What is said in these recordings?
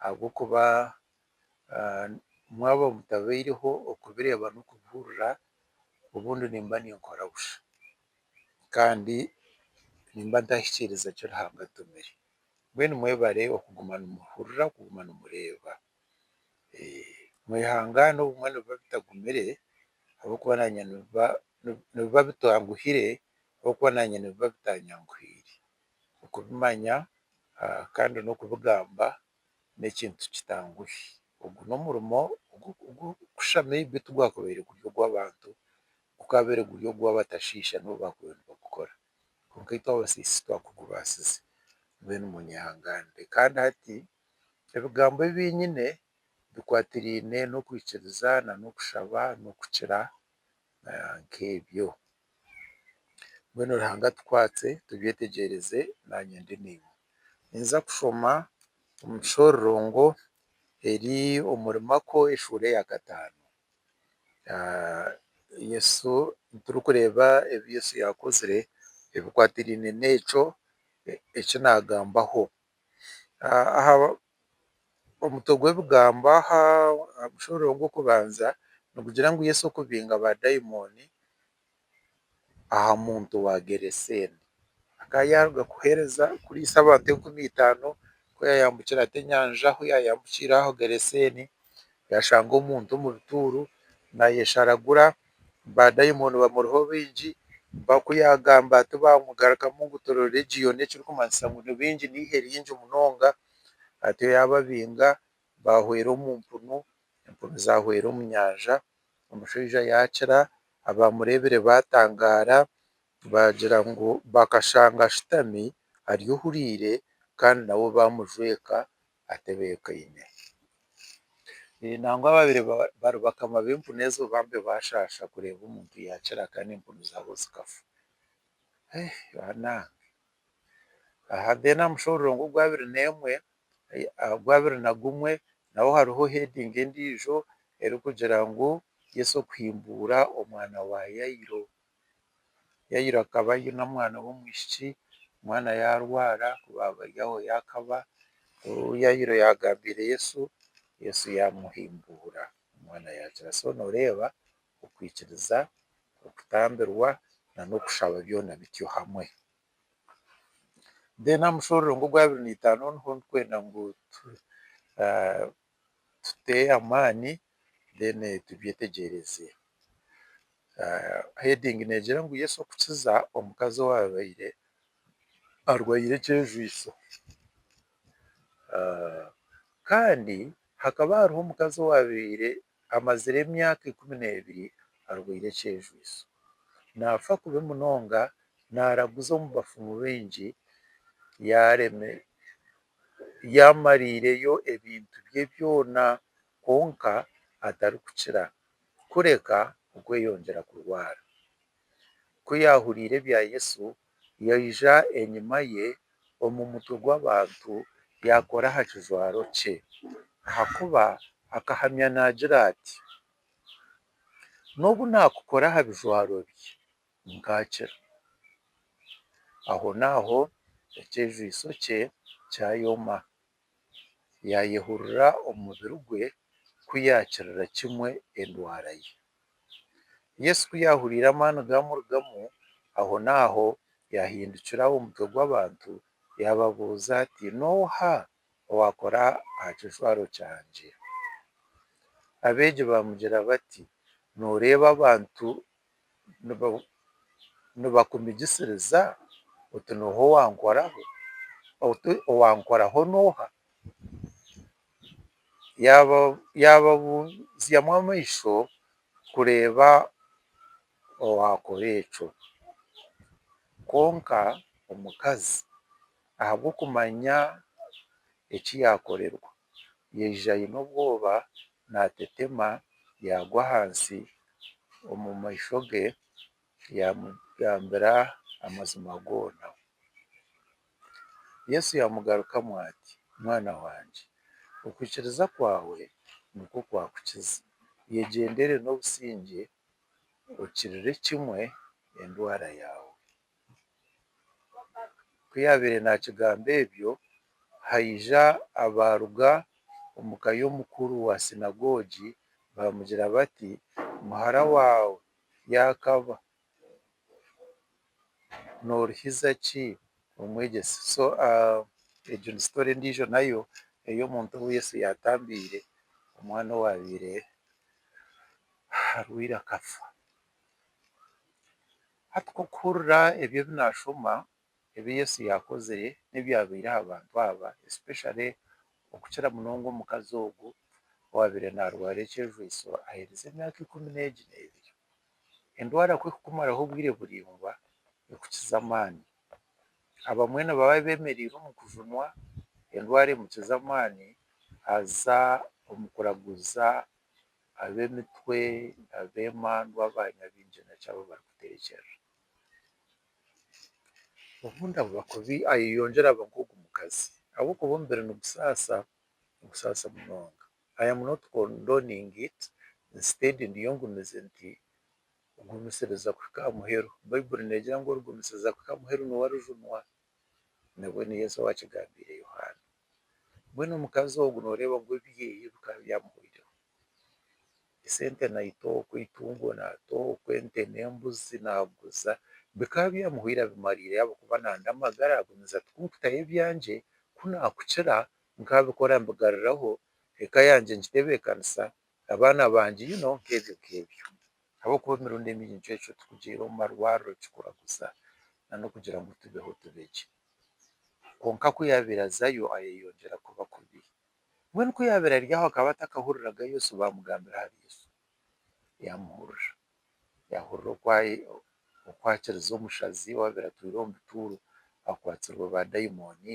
ahabw'okuba mwaba mutabaireho okubireeba n'okubihurira obundi nimba ninkora busha kandi nimba ntahikiiriza ki Ruhanga antumire. Mbwenu mwebare okuguma nimuhurira, okuguma nimureeba. Mwehangaane obumwe nibiba bitagumire ahabw'okuba naanye nibiba nibiba bitanguhire ahabw'okuba naanye nibiba bitanyanguhiire. Okubimanya kandi n'okubigamba n'ekintu kitanguhi. Ogu n'omurimo ogurikusha maybe tigwakabaire guri ogw'abantu, gukaabaire guri ogw'abatashiisha nibo baakubaire nibagukora. Kwonka itwe abasiisi twakugubaasize mbwenu munyehanganire. Kandi hati ebigambo ebi nyine bikwatiraine n'okwikiriza na n'okushaba n'okukira nk'ebyo. Mbwenu Ruhanga atukwatse tubyetegyeereze naanye ndi naiwe. Ninza kushoma omu kishororongo eri omuri Marko eshuura eya kataano. Yesu, turikureeba ebi Yesu yaakozire ebikwatiraine n'ekyo eki naagambaho. Omutwe gw'ebigambo aha mushoro ogw'okubanza nigugira ngu Yesu okubinga baadaimoni aha muntu wa Gereseene. Akaba yaaruga kuheereza kuriisa abantu enkumi eitaano ku yaayambukire ati enyanja ahu yaayambukire aho Gereseene. yashanga omuntu omu bituuru nayesharagura badayimoni bamuriho baingi mpaku yagamba ati bamugarukamu ngu turi region ekirikumanyisa ngu ni baingi ni eihe ringi munonga atyo yababinga bahweera omu mpunu empunu zahweera omu nyanja omushaija yakira abamurebire batangaara bagira ngu bakashanga ashutami ari ohuriire kandi nabo bamujweka. atebeekaine. Nangwa baabaire bari bakama b'empunu ezo bambi baashaasha kureeba omuntu yaakira kandi empunu zaabo zikafa. Banange! Aha then aha mushororongo ogw'abiri n'emwe, ogw'abiri na gumwe naho hariho heading endiijo erikugira ngu Yesu kuhimbuura omwana wa Yairo. Yairo akaba aine omwana w'omwishiki, omwana yaarwara ku baabari aho yaakaba. Ku Yairo yaagambiire Yesu, Yesu yaamuhimbura, omwana yaakira. So nooreeba okwikiriza, okutambirwa n'okushaba byona bityo hamwe. Then aha mushororongo ogw'abiri na itaano niho ndikwenda ngu tute amaani then tubyetegyereze. Heading negira ngu Yesu okukiza omukazi owaabaire arwaire ekyejwiso. Kandi hakaba hariho omukazi owaabaire amazire emyaka ikumi n'ebiri arwaire ekyejwiso. Naafa kubi munonga, naaraguza omu bafumu baingi, yaamariireyo ebintu bye byona kwonka atarikukira kureka okweyongyera kurwara. Ku yaahuriire ebya Yesu, yaija enyima ye omu mutwe gw'abantu yaakora aha kijwaro kye, ahakuba akahamya naagira ati, N'obu naakukora aha bijwaro bye, nkakira. Ahonaaho ekyejwitso kye kyayoma. Yaayehurira omu mubiri gwe ku yaakirira kimwe endwara ye. Yesu ku yaahuriire amaani gaamurugamu, ahonaaho yaahindukira omutwe gw'abantu yaababuuza ati, N'oha owaakora aha kijwaro kyangye? Abeegi baamugira bati, Nooreeba abantu nibakumigisiriza oti nooha owankoraho? oti owankoraho nooha? Yaababuuzamu amaisho kureeba owaakora ekyo, kwonka omukazi Ahabw'okumanya eki yaakorerwa, yaija aine obwoba naatetema yaagwa ahansi omu maisho ge yaamugambira amazima goona. Yesu yaamugarukamu ati, Mwana wangye, okwikiriza kwawe nikwo kwakukiza. Yegyendere n'obusingye, okirire kimwe endwara yaawe. Ku yaabaire naakigamba ebyo, haija abaaruga omu ka y'omukuru wa sinagogi baamugira bati, Muhara waawe yaakaba, nooruhiza ki Omwegyesa? Egyo ni sitori endiijo nayo ey'omuntu ou Yesu yaatambiire, omwana owaabaire arwaire akafa. Hati k'okuhurira ebi ebi nashoma ebi Yesu yakozire n'ebyabaire aha bantu aba especially okukira munonga omukazi ogu owabaire narwara ekyejwiso ahereza emyaka ikumi n'egi n'ebiri. Endwara ku ekukumaraho obwire buraingwa ekukiza amaani. Abamwe nibaba bemereire omu kujunwa endwara emukiza amaani aza omu kuraguza Ab'emitwe, ab'emandwa, aba nyabingi naki abu barikuteekyerera. Obundi abu bakubi ayeyongyera aba nk'ogu mukazi ahabw'okuba omubiri nigusaasa, nigusaasa munonga. I am not condoning it, instead ndiyo ngumize nti gumisiriza kuhika aha muheru. Baiburi neegira ngu origumisiriza kuhika aha muheru niwe arijunwa. nabwe ni Yesu owaakigambiire Yohaana. Mbwenu omukazi ogwo nooreeba ngu ebyeye bikaba byamuhweireho. Esente naita oku, eitungo naata oku, ente n'embuzi naaguza, bikaba byamuhweire abimariire ahabw'okuba naanda amagara agumiza ati kunkutaho ebyangye, ku naakukira nkabikora mbigaruraho, eka yangye ngitebeekanisa, abaana bangye you know nk'ebyo nk'ebyo. Ahabw'okuba emirundi emingi nikyo ekyo turikugira omu marwariro kikuraguza n'okugira ngu tubeho tube gye. Kwonka ku yaabaire azayo ayeeyongyera kuba kubi. Mbwenu ku yaabaire ari aho akaba atakahuriraga Yesu baamugambira ahari Yesu. Yaamuhurira. Yaahurira oku akirize omushazi owaabaire atwire omu bituuru, akwatsirwe baadaimoni.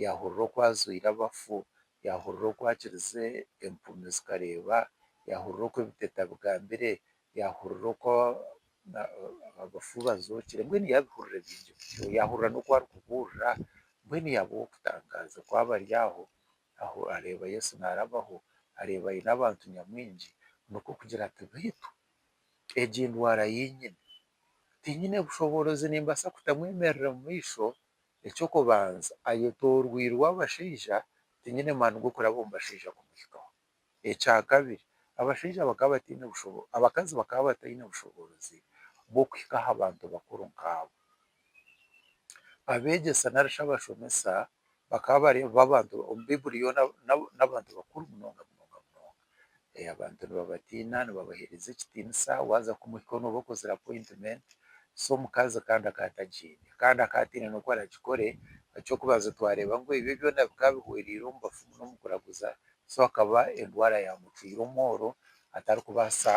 Yaahurira oku ajwire abafu, yaahurira oku akirize, empumi zikareeba, yaahurira oku ebiteta bigambire, yaahurira oku abafu bazookire, mbwenu yaabihurira bingi bityo. Yaahurira n'oku arikubuurira, mbwenu yaaba ow'okutangaaza ku aba ari aho, aho areeba Yesu naarabaho, areeba aine abantu nyamwingi, nikwo kugira ati, Beitu egi ndwara yeinyine, tinyine bushoboorozi nimbaasa kutamwemerera omu maisho Eky'okubanza, ayetooroirwe abashaija, tinyine maani g'okuraba omu bashaija kumuhikaho. Ekya kabiri, abashaija bakaba bataine bushoboorozi, abakazi bakaba bataine bushoboorozi bw'okuhika aha bantu bakuru nk'abo. Abeegyesa nari shi abashomesa bakaba bareeba abantu, omu Baibuli yoona, n'abantu bakuru munonga munonga munonga. abantu nibabatiina nibabahereza ekitiinisa waaza kumuhikaho nooba okozire appointment so omukazi kandi akaba atagiine kandi akaba ataine n'oku aragikore eky'okubanza twareeba ngu ebyo byona bikaba bihwereire omu bafumu n'omu kuraguza so akaba endwara yaamutwire omworo atarikubaasa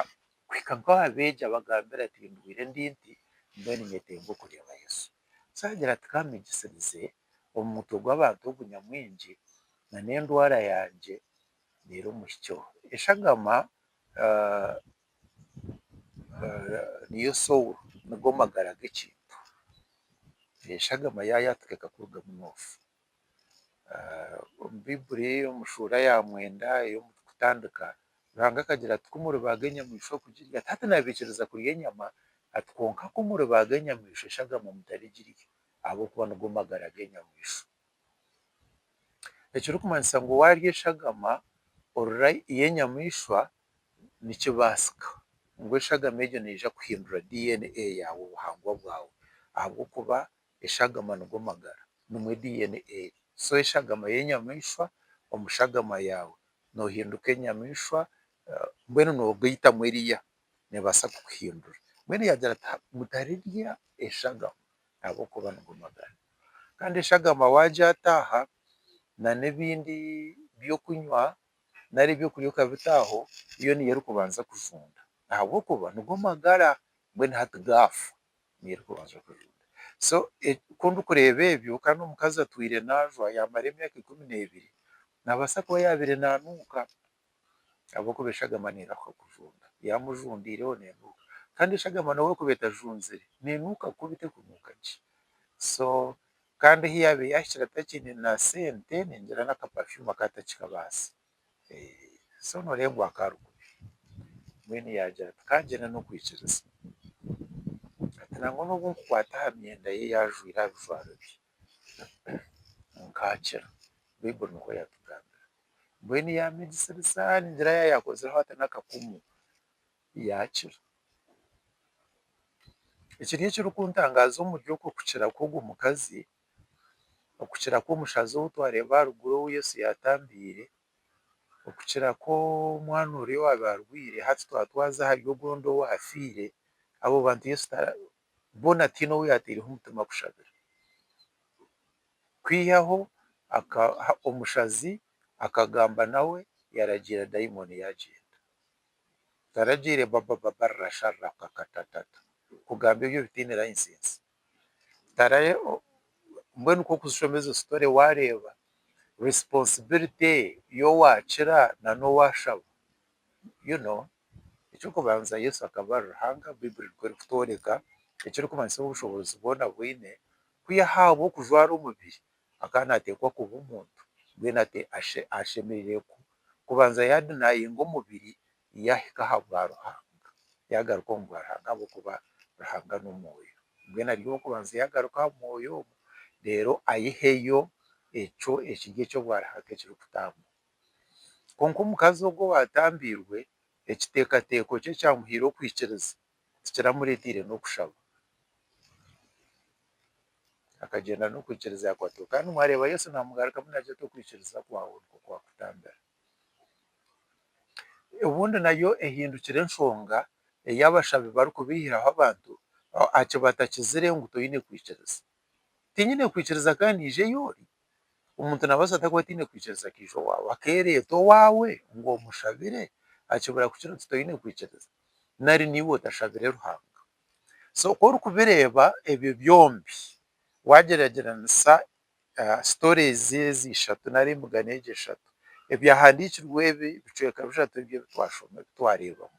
kuhika nka aha beegi abagambira ati ndwaire ndi nti mbwenu nyetenga okureeba Yesu so aragira ati ka mbegisirize omu mutwe gw'abantu ogu nyamwingi na n'endwara yangye Reero omuhikyo. Eshagama niyo soul, nigo magara g'ekintu. Eshagama yaayaaha tukeeka kurugamu noofa. Omu Baiburi omu shuura ya mwenda ey'okutandiika, Ruhanga akagira ati kumuribaaga enyamaishwa kugirya, hati naabaikiriza kurya enyama ati kwonka kumuribaaga enyamaishwa eshagama mutari girya ahabw'okuba nigo magara g'enyamaishwa. ekirikumanyisa ngu waarya eshagama orora yo enyamaishwa nikibaasika ngu eshagama egyo neija kuhindura DNA yaawe obuhangwa bwaawe ahabw'okuba eshagama nigo magara nimwo DNA eri so eshagama yo enyamaishwa omu shagama yaawe noohinduka enyamaishwa mbwenu noogaitamu eriya neebaasa kukuhindura mbwenu yaagira ati mutarirya eshagama ahabw'okuba nigo magara. Kandi eshagama waagyata aha nana ebindi by'okunywa nari eby'okurya okabita aho, yo niyo erikubanza kujunda ahabw'okuba nigo magara, mbwenu hati gaafa niyo erikubanza kujunda. So ku ndikureeba ebyo kandi omukazi atwire naajwa yaamara emyaka ikumi n'ebiri, naabaasa kuba yaabaire naanuuka ahabw'okuba eshagama neebaho kujunda. Yaaba mujundiireho neenuuka. Kandi eshagama n'obu erikuba etajunzire, neenuuka kubi terikunuuka gye. So kandi ahi yaabaire yaahikire atakiine na sente, neengira n'aka perfume aka atakikabaasa. So nooreeba ngu aka ari kubi. Mbwenu yaagira ati kaagyenda n'okwikiriza. Ati nangwa n'obu nkukwata aha myenda ye yaajwaire aha bijwaro bye, Nkakira. Baiburi nikwo yatugambira. Mbwenu yaamigisiriza ningira yaaba yaakozireho ata n'akakumu, yaakira. Ekiri ekirikuntangaza omuri okwo kukira kw'ogwo mukazi, okukira kw'omushaija ou twareeba aha ruguru ou Yesu yaatambiire, okukira kw'omwana oriya owaabaire arwaire, hati twatwaza ahari ogu ondi owaafiire, abo bantu Yesu ta boona tihaine ou yaataireho omutima kushabira. Kwihaho omushazi akagamba nawe yaragiira dayimooni yaagyenda. Taragiire baba baba rra sha rra ka ka ta ta ta kugamba ebyo ebitaine layisinsi. Tara mbwenu ku orikushoma ezo sitore waareeba risiponsibilite y'owaakira na n'owaashaba you know. Eky'okubanza Yesu akaba ari Ruhanga, Baiburi nikwo erikutworeka, ekirikumanyisa obushoboorozi bwona obu aine, ku yaahaabwa okujwara omubiri akaba naateekwa kuba omuntu, mbwenu ashemereire kubanza yaadinayinga omubiri yaahika aha bwa Ruhanga, yaagaruka omu bwa Ruhanga ahabw'okuba Ruhanga n'omwoyo. Mbwenu ari ow'okubanza yaagaruka aha mwoyo ogwo reero aiheyo ekyo ekiri eky'obwa Ruhanga ekirikutambura. Kwonka omukazi ogwo owaatambiirwe, ekiteekateeko kye kyamuhaire okwikiriza, tikiramureeteire n'okushaba. Akagyenda n'okwikiriza yakwatwa. Kandi mwareeba Yesu naamugarukamu naagira ati, Okwikiriza kwawe nikwo kwakutambira. Obundi nayo ehindukire enshonga ei abashabi barikubeihiraho abantu, eki batakizire ngu toine kwikiriza. Tinyine kwikiriza ka naija ei ori. Omuntu naabaasa ata kuba ataine kwikiriza akaija owaawe, akeereeta owaawe ngu omushabire? Hakibura kukira oti toine kwikiriza. Nari naiwe otashabire Ruhanga. So ku orikubireeba ebyo byombi, waagyeragyeranisa sitori ezi ishatu nari emigano egi eshatu, Ebyahandiikirwe ebi bicweka bishatu ebi ebi twashoma ebi twareebamu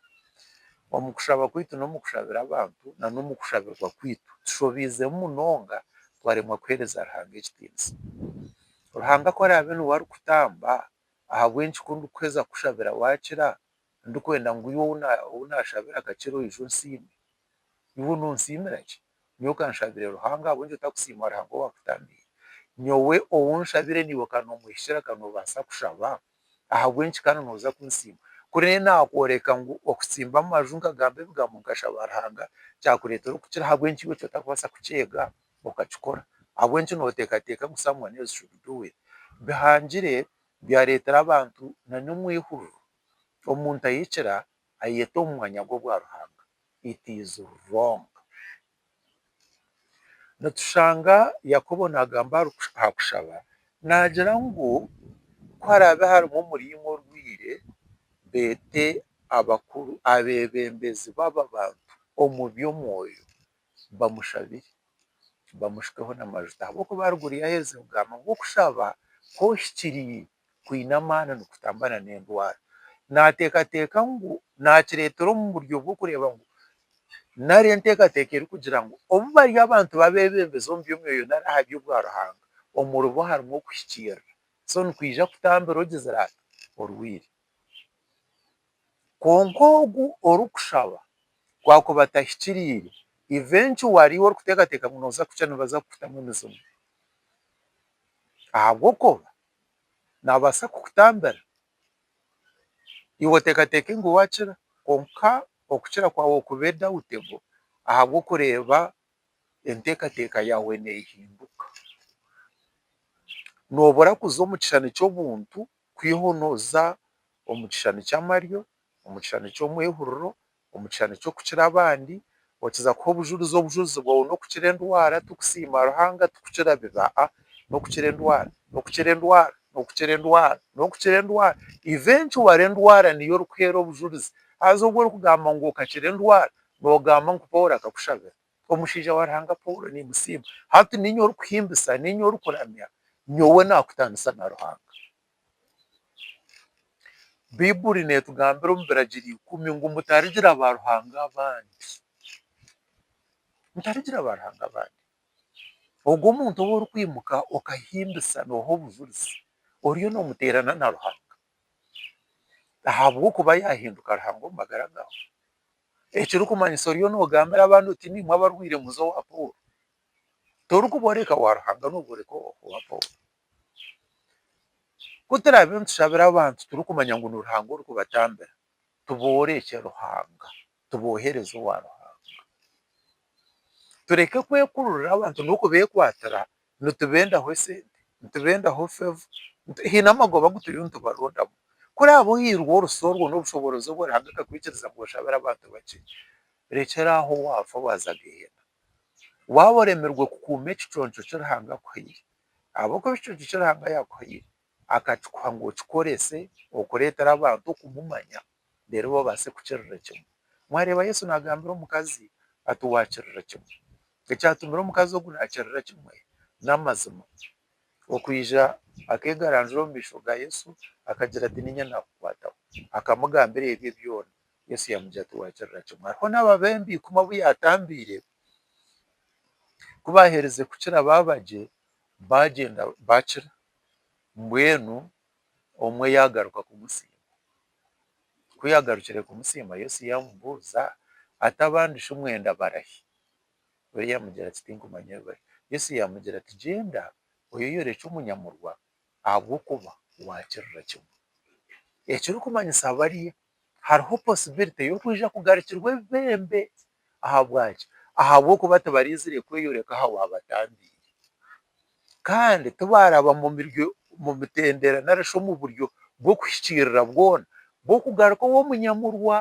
omu kushaba kwaitu n'omu kushabira abantu na n'omu kushabirwa kwaitu tushobiizemu munonga twaremwa kuheereza Ruhanga ekitiinisa. Ruhanga ku araabe niwe arikutamba ahabw'enki ku ndikuheza kukushabira waakira, ndikwenda ngu iwe ou naashabira akakira oije onsiime. Iwe nonsiimira ki? Nyowe kanshabire Ruhanga ahabw'enki otakusiima Ruhanga owaakutamiire? Nyowe ou nshabire naiwe ka noomwehikira ka noobaasa kushaba? Ahabw'enki kandi nooza kunsiima? Kuri nanye naakworeka ngu okutsimba amaju nkagamba ebigambo nkashaba Ruhanga kyakureetera okukira ahabw'enki iwe ky'otakubaasa kukyeega okakikora? Ahabw'enki nooteekateeka ngu someone else should do it? Bihangire byareetera abantu nanyomwe eihururu. Omuntu ahikira ayete omu mwanya gw'obwa Ruhanga it is wrong. Nitushanga Yakobo nagamba aha kushaba nagira ngu ku harabe harimu omuriimo orwiire bete abakuru, abebembezi baba bantu omu by'omwoyo bamushabire, bamushukeho n'amajuta ahabw'okuba arigurya yaheereza ebigamba ngu okushaba ku ohikiriire kwine amaani nikutamba na n'endwara. Naateekateeka ngu naakireetera omu buryo bw'okureeba ngu nari enteekateeka erikugira ngu obu bari abantu b'abeebembezi omu by'omwoyo nari aha by'obwa Ruhanga, omuribo harimu okuhikiirira. So nikwija kutambira ogizire ati orwaire. Kwonka ogu orikushaba ku akuba atahikiriire, eventually ou orikuteekateeka ngu nooza kukira nibaza kukutamu emizimu. Ahabw'okuba naabaasa kukutambira iwe oteekateeke ngu waakira kwonka okukira kwawe kube dawutebo ahabw'okureeba enteekateeka yaawe neehinduka. Noobura kuza omu kishushani ky'obuntu kwihaho nooza omu kishushani ky'amaryo, omu kishushani ky'omwehuriro, omu kishushani ky'okukira abandi, okiza kuha obujurizi, obujurizi bwawe n'okukira endwara, tukusiima Ruhanga, tukukira biba a, n'okukira endwara, n'okukira endwara, n'okukira endwara, n'okukira endwara, eventually endwara niyo orikuheera obujurizi, haza obu orikugamba ngu okakira endwara, noogamba ngu Paul akakushabira. Omushaija wa Ruhanga Paulo, nimusiima. Hati niinye orikuhimbisa, niinye orikuramya, nyowe naakutaanisa na Ruhanga. Baiburi neetugambira omu Biragiro ikumi ngu mutarigira baaruhanga abandi. Mutarigira baaruhanga abandi. Ogwo omuntu ou orikwimuka okahimbisa nooha obujurizi, oriyo noomuteerana na Ruhanga ahabw'okuba yaahinduka Ruhanga omu magara gaawe. Ekirikumanyisa oriyo nogambira abandi oti nimwe abarwaire muze owa Paul. Torikuboreka wa Ruhanga noboreka owa Paul. Kuturabiire nitushabira abantu turikumanya ngu ni Ruhanga orikubatambira tuborekye Ruhanga tubohereze owa Ruhanga. Tureke kwekururira abantu nokubekwatira nitubendaho esente, nitubendaho favor, haine amagoba agu turiyo nitubarondamu. Ku oraabe ohairwe orusa orwo n'obushoboorozi obwo Ruhanga akakwikiriza ngu oshabire abantu bakye, rekyera aho waafa waaza Gehenna. Waaba oremirwe kukuuma ekiconco ki Ruhanga akuhaire, ahabw'okuba ekiconco ki Ruhanga yaakuhaire akakikuha ngu okikorese okureetera abantu okumumanya reero babaase kukirira ekimwe. Mwareeba Yesu naagambira omukazi ati, Waakirira ekimwe. Ekyatumire omukazi ogu naakirira ekimwe n'amazima. Okwija akeegaranzura omu maisho ga Yesu akagira ati, Niinye naakukwataho. Akamugambira ebye byona. Yesu yaamugira ati, Waakirira kimwe. Hariho n'ababembi ikumi abu yaatambiire ku baaherize kukira baaba gye, baagyenda baakira. Mbwenu omwe yaagaruka kumusiima. Ku yaagarukire kumusiima, Yesu yaamubuuza ati, Abandi shi mwenda barahi? We yaamugira ati, Tinkumanya ei bari. Yesu yaamugira ati, Gyenda oyeyorekye omunyamurwa, ahabw'okuba waakirira kimwe. Ekirikumanyisa bariya. hariho posibilite y'okwija kugarukirwa ebibembe. Ahabwaki? Ahabw'okuba tibaraizire kweyoreka aha waabatambiire. Kandi tibaaraba omu mitendera nari shi omu buryo bw'okuhikiirira bwona bw'okugaruka ow'omunyamurwa.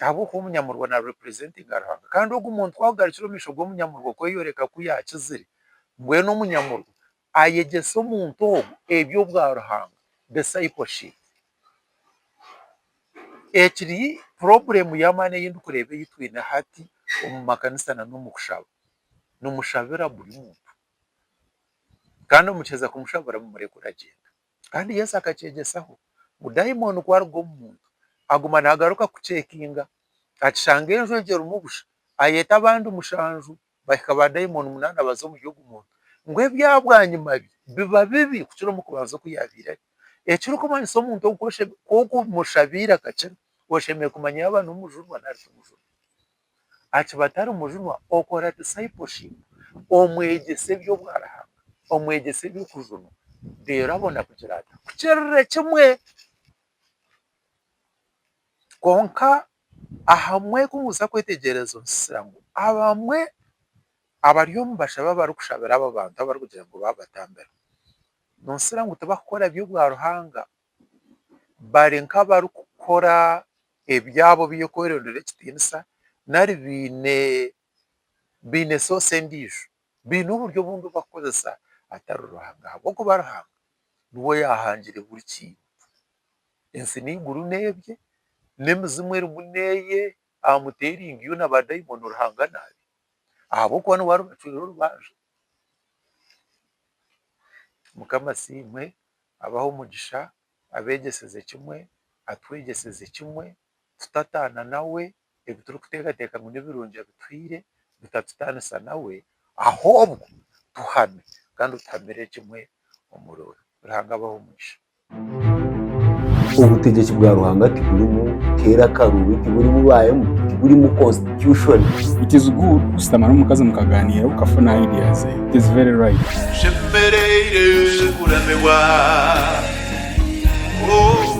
Ahabw'okuba omunyamurwa naarepurezentinga Ruhanga. Kandi ogu muntu ku arikugarukira omu maisho g'omunyamurwa okweyoreka ku yaakizire, mbwenu omunyamurwa ayegyese omuntu ogwo eby'obwa Ruhanga, discipleship. Egi ni purobulemu y'amaani ei ndikureeba ei twine hati omu makanisa nari omu kushaba. Nimushabira buri muntu. Kandi mukiheza kumushabira mumureke oragyenda. Kandi Yesu akakyegyesaho ngu dayimooni ku aruga omu muntu, aguma naagaruka kuceekinga, akishanga enju egyo erimu busha, ayeeta abandi mushanju bahika baadaimoni munaana baza omuri ogwo muntu, ngu ebyabwanyima bye biba bibi kukira omu kubanza oku yaabaire ari. Ekirikumanyisa omuntu ogu ku okumushabaire akakira, oshemereire kumanya yaaba ari mujunwa nari timujunwa. Aha kiba atari mujunwa, okora discipleship, omwegyesa eby'obwaruhanga, omwegyesa eby'okujunwa, reero abona kugira ata? Kukirire kimwe. Kwonka Ahamwe ku muza kwetegyereza omusisira ngu abamwe abari omu bashabe abarikushabira abo bantu abarikugira ngu baabatambira, noosira ngu tibakukora eby'obwa Ruhanga bari nk'abarikukora ebyabo eby'okwerondera ekitiinisa nari baine baine sosi endiijo, baine oburyo obundi obu barikukoresa atari Ruhanga ahabw'okuba Ruhanga niwe yaahangire buri kintu. Ensi n'eiguru n'ebye, n'emizimu erimu n'eye, aha muti eri ngiyo na baadaimoni Ruhanga naabi, ahabw'okuba niwe aribacwera orubanja. Mukama asiimwe, abahe omugisha, abeegyeseze kimwe, atwegyeseze kimwe. tutataana nawe, ebi turikuteekateeka ngu nibirungi abituhaire bitatutaanisa nawe, ahobwe tuhame kandi otuhamire kimwe omuri we. Ruhanga abahe omugisha. Obutegyeki bwa Ruhanga tiburimu teera akaruubi, tiburimu baayemu, tiburimu constitution. It is good kushutama n'omukazi mukagaaniira okafuna idea ze. It is very right. Tushemereire kuremebwa oh.